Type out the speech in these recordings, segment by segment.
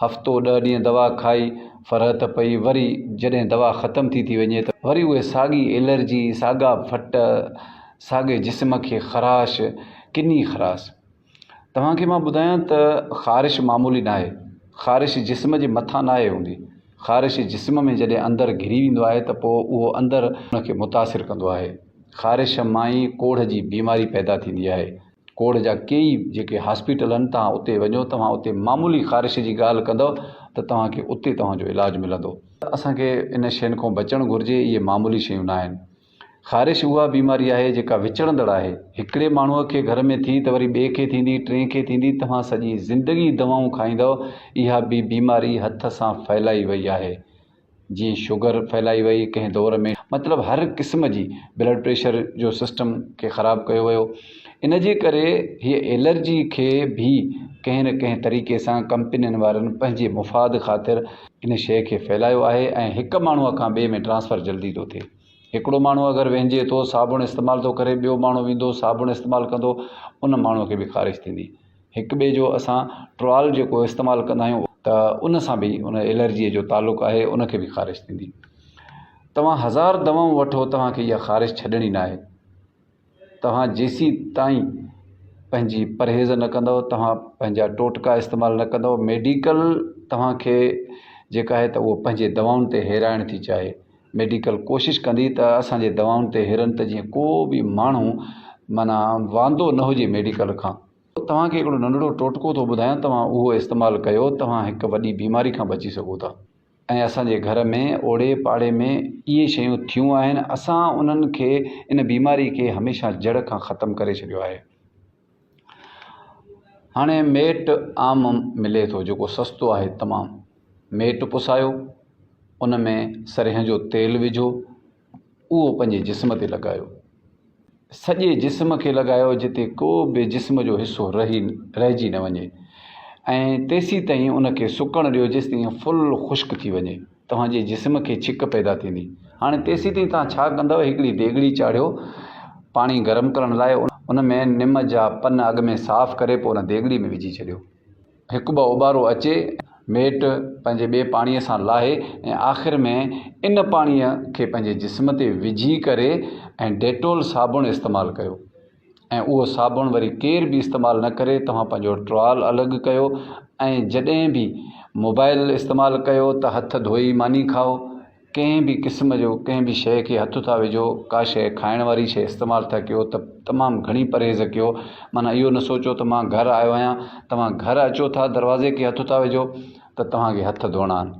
هفتو ڏهه ڏينهن دوا کائي فرحت پئي وري جڏهن دوا ختم ٿي ٿي وڃي ته وري اهي ساڳي الرجي ساڳا ڦٽ ساڳي جسم کي خراش ڪني خراس توهان کي مان ٻڌايان ته خارش معمولي ناهي خارش جسم جي مٿان ناهي هوندي خارش جسم ۾ جڏهن اندر گهري ويندو آهي ته پوء اهو اندر ان کي متاثر ڪندو آهي خارش مان ئي ڪوڙهه جي بيماري پيدا ٿيندي آهي کوڙ جا ڪيئي جيڪي هاسپيٽل آهن توهان اتي وڃو توهان اتي معمولي خارش جي ڳالهه ڪندو ته توهان کي اتي توهان جو علاج ملندو اسان کي ان شين کان بچڻ گهرجي اهي معمولي شيون نه آهن خارش اها بيماري آهي جيڪا وچڙندڙ آهي هڪڙي ماڻهو کي گهر ۾ ٿي ته وري ٻئي کي ٿيندي ٽئين کي ٿيندي توهان سڄي زندگي دوائون کائيندو اها بي بيماري هٿ سان ڦهلائي وئي آهي جي شگر ڦهلائي وئي ڪنهن دور ۾ مطلب هر قسم جي بلڊ پريشر جو سسٽم کي خراب ڪيو ويو ان جي ڪري هي ايلرجي کي به ڪنهن نه ڪنهن طريقي سان ڪمپنين وارن پنهنجي مفاد خاطر ان شيء کي ڦهلايو آهي ۽ هڪ ماڻهو کان ٻئي ۾ ٽرانسفر جلدي ٿو ٿئي هڪڙو ماڻهو اگر وهنجي ٿو صابڻ استعمال ٿو ڪري ٻيو ماڻهو ويندو صابڻ استعمال ڪندو ان ماڻهو کي به خارش ٿيندي هڪ ٻئي جو اسان ٽرال جيڪو استعمال ڪندا آهيون ته ان سان به ان الرجيء جو تعلق آهي ان کي به خارش ٿيندي توهان هزار دوائون وٺو توهانکي اها خارش ڇڏڻي نه آهي توهان جيسين تائين پنهنجي پرهيز نه ڪندو توهان پنهنجا ٽوٽڪا استعمال نه ڪندو ميڊيڪل توهانکي جيڪا آهي ته اهو پنهنجي دوائن تي هيرائڻ ٿي چاهي ميڊيڪل ڪوشش ڪندي ته اسانجي دوائن تي هيرن ته جيئن ڪو به ماڻهو معنيٰ واندو نه هجي ميڊيڪل کان توهان کي هڪڙو ننڍڙو ٽوٽڪو ٿو ٻڌايان توهان اهو استعمال ڪيو توهان هڪ وڏي بيماري کان بچي سگهو ٿا ۽ اسان جي گهر ۾ اوڙي پاڙي ۾ اهي شيون ٿيون آهن اسان انهن کي ان بيماري کي هميشه جڙ کان ختم ڪري ڇڏيو آهي هاڻي ميٽ عام ملي ٿو جيڪو سستو آهي تمام ميٽ پسايو ان ۾ سرهين جو تيل وجهو اهو پنهنجي جسم تي لڳايو. سڄي جسم کي لڳايو جتي ڪو به جسم جو حصو رهي رهجي نه وڃي ۽ تيسيتائين ان کي سڪڻ ڏيو جيستائين فل خشڪ ٿي وڃي. توهان جي جسم کي ڇڪ پيدا ٿيندي. هاڻي تيسيتائين توهان ڇا ڪندؤ هڪڙي ديڳڙي چاڙهيو پاڻي گرم ڪرڻ لاء ان ۾ نم جا پن اڳ ۾ صاف ڪري پوء ان ديڳڙي ۾ وجهي ڇڏيو. هڪ ٻه اوٻارو اچي ميٽ پنهنجي ٻئي پاڻيء سان لاهي ۽ آخر ۾ ان پاڻيء کي پنهنجي جسم تي وجهي ڪري ۽ ڊيٽول صابڻ استعمال ڪيو ۽ اهو صابڻ وري ڪير به استعمال نه ڪري توهان پنهنجو ٽرال الڳ ڪيو ۽ جڏهن به موبائل استعمال ڪيو ته هٿ ڌوئي ماني کائو ڪنهن به قسم جو ڪنهن به شيء کي هٿ ٿا وجهو ڪا شيء کائڻ واري شيء استعمال ٿا ڪيو ته تمام گهڻي پرهيز ڪيو معنيٰ اهو نه سوچو ته مان گهر آيو آهيان توهان گهر اچو ٿا دروازي کي هٿ ٿا وجهو ته توهان کي هٿ ڌوئڻا آهن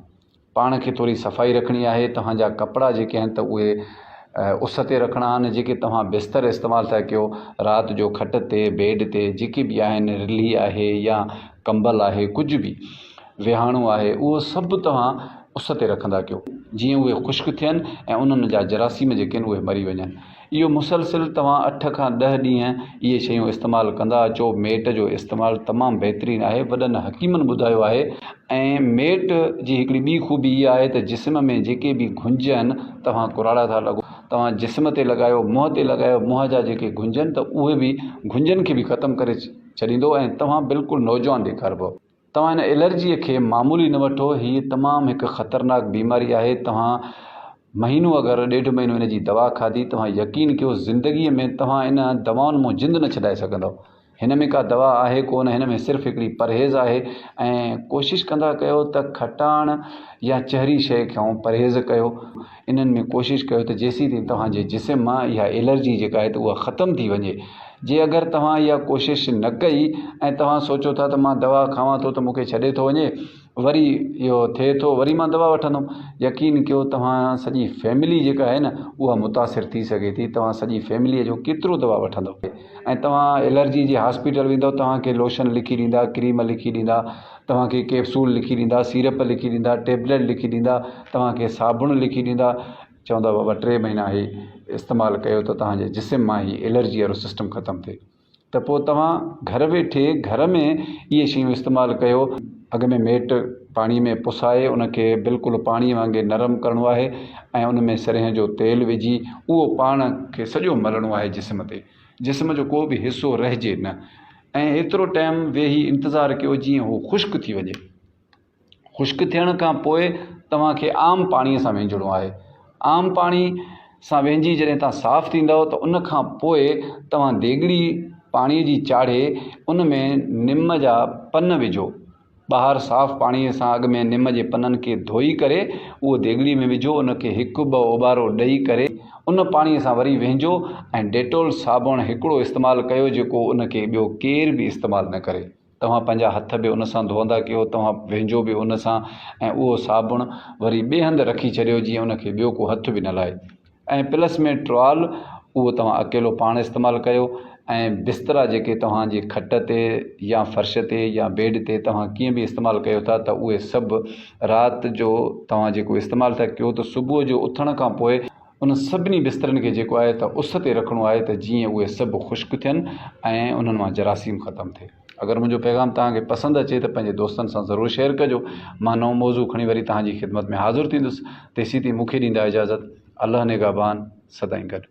پاڻ کي ٿوري صفائي رکڻي آهي توهان جا ڪپڙا جيڪي آهن ته اهي اس تي رکڻا آهن جيڪي توهان بستر استعمال ٿا ڪيو رات جو کٽ تي بيڊ تي جيڪي به آهن رلي آهي يا ڪمبل آهي ڪجهه به ويهاڻو آهي اهو سڀ توهان اس تي رکندا ڪيو جيئن اهي خشڪ ٿين ۽ انهن جا جراثيم جيڪي آهن اهي مري وڃن اهو مسلسل توهان اٺ کان ڏهه ڏينهن اهي شيون استعمال ڪندا اچو ميٽ جو استعمال تمام بهترين آهي وڏن حڪيمن ٻڌايو آهي ۽ ميٽ جي هڪڙي ٻي خوبي اها آهي ته جسم ۾ جيڪي به گهنج آهن توهان ڪراڙا ٿا لڳو توهان جسم تي لڳايو منهن تي لڳايو منهن جا جيڪي گهنج آهن ته اهي به گهنجن کي به ختم ڪري ڇڏيندو ۽ توهان بلڪل نوجوان ڏيکاربو توهان هن الرجيء کي معمولي نه وٺو، هيء تمام هڪ خطرناڪ بيماري آهي، توهان مهينو اگر ڏيڍ مهينو هن جي دوا کاڌي، توهان يقين ڪيو زندگيء ۾ توهان ان دوائن مون جند نه ڇڏائي سگهندؤ. هن ۾ ڪا دوا آهي ڪو نه، هن ۾ صرف هڪڙي پرهيز آهي ۽ ڪوشش ڪندا ڪيو ته کٽاڻ يا چهري شيء کان پرهيز ڪيو. انهن ۾ ڪوشش ڪيو ته جيسين تائين توهان جي جسم مان اها الرجي جيڪا آهي ته اها ختم ٿي وڃي جي اگر توهان اها ڪوشش نه ڪئي ۽ توهان سوچو ٿا ته مان دوا کاوان ٿو ته مون کي ڇڏي ٿو وڃي وري اهو ٿئي ٿو وري مان دوا وٺندم يقين ڪيو توهان سڄي فيملي جيڪا آهي نه اها متاثر ٿي سگهي ٿي توهان سڄي فيمليء جو ڪيترو دوا وٺندو ۽ توهان الرجي جي هاسپيٽل ويندو توهان کي لوشن لکي ڏيندا ڪريم لکي ڏيندا توهان کي ڪيپسول لکي ڏيندا سيرپ لکي ڏيندا ٽيبليٽ لکي ڏيندا توهان کي صابڻ لکي ڏيندا چوندا بابا ٽي مهينا هي استعمال ڪيو ته توهان جي جسم مان هي الرجي وارو سسٽم ختم ٿئي ته پوء توهان گهر ويٺي گهر ۾ اهي شيون استعمال ڪيو اڳ ۾ ميٽ پاڻي ۾ پسائي ان کي بلڪل پاڻي وانگي نرم ڪرڻو آهي ۽ ان ۾ سرهين جو تيل وجهي اهو پاڻ کي سڄو ملڻو آهي جسم تي جسم جو ڪو به حصو رهجي نه ۽ ايترو ٽيم ويهي انتظار ڪيو جيئن هو خشڪ ٿي وڃي خشڪ ٿيڻ کان پوء توهان کي عام پاڻي سان وينجهڻو آهي عام پاڻي سان وينجهي جڏهن توهان صاف ٿيندؤ ته ان کان پوء توهان ديڳڙي پاڻي جي چاڙهي ان ۾ نم جا پن وجهو ٻاهر صاف پاڻيء سان اڳ ۾ نم جي پنن کي ڌوئي ڪري اهو ديڳڙي ۾ وجهو ان کي هڪ ٻه اوٻارو ڏئي ڪري ان پاڻيء سان وري وهنجو ۽ ڊيٽول صابڻ هڪڙو استعمال ڪيو جيڪو ان کي ٻيو ڪير به استعمال نه ڪري توهان پنهنجا هٿ به ان سان ڌوئندا ڪيو توهان وهنجو به ان سان ۽ اهو صابڻ وري ٻئي هنڌ رکي ڇڏيو جيئن ان کي ٻيو ڪو هٿ به نه لائي. ۽ پلس ۾ ٽرال اهو توهان اڪيلو پاڻ استعمال ڪيو ۽ بسترا جيڪي توهان جي کٽ تي يا فرش تي يا بيڊ تي توهان ڪيئن به استعمال ڪيو ٿا ته اهي سڀ رات جو توهان جيڪو استعمال ٿا ڪيو ته صبح جو اٿڻ کان پوء ان سڀني بسترن کي جيڪو آهي ته اس تي رکڻو آهي ته جيئن اهي سڀ خشڪ ٿين ۽ انهن مان جراثيم ختم ٿئي. اگر منهنجو پيغام توهان کي پسند اچي ته پنهنجي دوستن سان ضرور شيئر ڪجو مان نئون موضوع کڻي وري توهان جي خدمت ۾ حاضر ٿيندس تيسين تائين مون کي ڏيندا اجازت الله نگهبان سدائين گڏ.